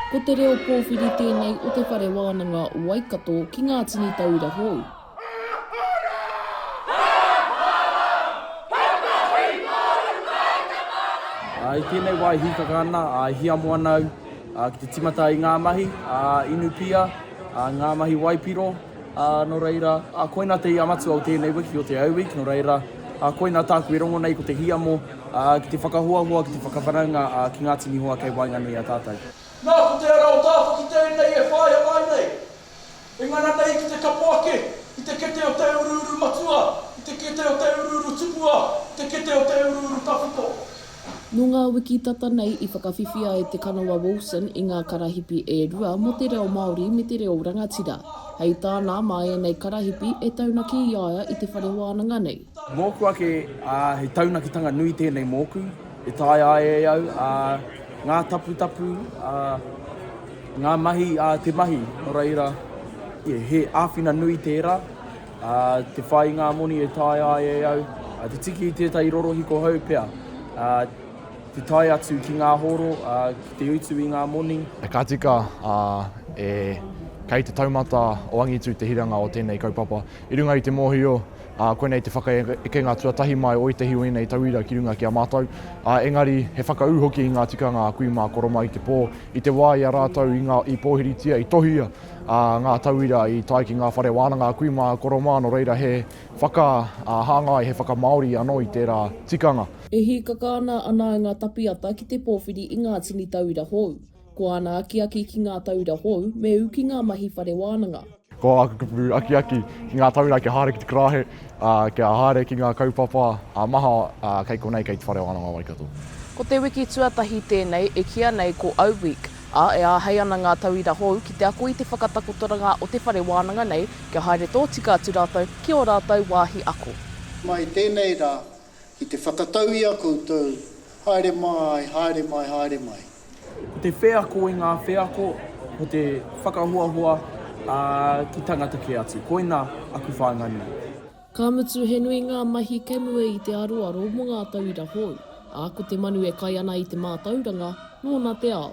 Ko te reo pōwhiri tēnei o te Whare Wānanga Waikato ki ngā tini taura hou. I tēnei wā e hīkaka ana, e hiamo ana au ki te timata i ngā mahi inu pia, ngā mahi waipiro, nō reira, koina te ia matua o tēnei wiki, o Te Au Week, nō reira, koina tāku e rongo nei ko te hiamo ki te whakahoahoa, ki te whakawhanaunga ki ngā tini hoa kei waenganui i a tātou. Nā, ko te ara o Tāwhaki tēnei e whāia mai nei, E ngana nei ki te kapo ake i te kete o te uruuru matua, i te kete o te uruuru tupua, i te kete o te uruuru tawhito. Nō ngā wiki tata nei i whakawhiwhia e Te Kanawa Wilson i ngā karahipi e rua mō te reo Māori me te reo rangatira. Hei tāna, mā ēnei karahipi e taunaki i a ia i te whare wānanga nei, Mōku ake, ā, he taunakitanga nui tēnei mōku, e taea ai e au, ā, ngā taputapu, ā, ngā mahi, ā, te mahi, nō reira, he āwhina nui tērā, ā, te whai i ngā moni e taea ai e au, ā, te tiki i tētahi rorohiko hou pea, ā, te tae atu ki ngā hōro, ā, ki te utu i ngā moni. Ka tika, ā, e, kei te taumata o Angitu te hiranga o tēnei kaupapa. I runga i te mōhio, ā, koinei te whakaekenga tuatahi mai o ētahi o ēnei tauira ki runga ki a mātou, ā, engari he whakaū hoki i ngā tikanga a kui mā Koromā i te pō, i te wā i a rātou i ngā, i pōhiritia, i tohia, ā, ngā tauira i tae ki ngā whare wānanga a kui mā Koromā, nō reira he whaka, ā, hāngai, he whakamāori anō i tērā tikanga. E hīkaka ana a Nāinga Tapiata ki te pōwhiri i ngā tini tauira hou. Ko āna akiaki ki ngā taura hou, me ū ki ngā mahi whare wānanga. Ko āku kupu akiaki ki ngā taura kia haere ki te karahe, ā, kia haere ki ngā kaupapa ā-maha kei konei, kei te whare wānanga o Waikato. Ko te wiki tuatahi tēnei e kīa nei ko O Week, ā, e āhei ana ngā tauira hou ki te ako i te whakatakotoranga o te whare wānanga nei kia haere tōtika atu rātou ki ō rātou wāhi ako. Mai tēnei rā, Ki te whakatau i a koutou, haere mai, haere mai, haere mai. Ko te wheako i ngā wheako, ko te whakahoahoa ki tangata kē atu. Koina aku whāinga nui. Ka mutu, he nui ngā mahi kei mua i te aroaro mō ngā tauira hou, ā, ko te manu e kai ana i te mātauranga, nōna te ao.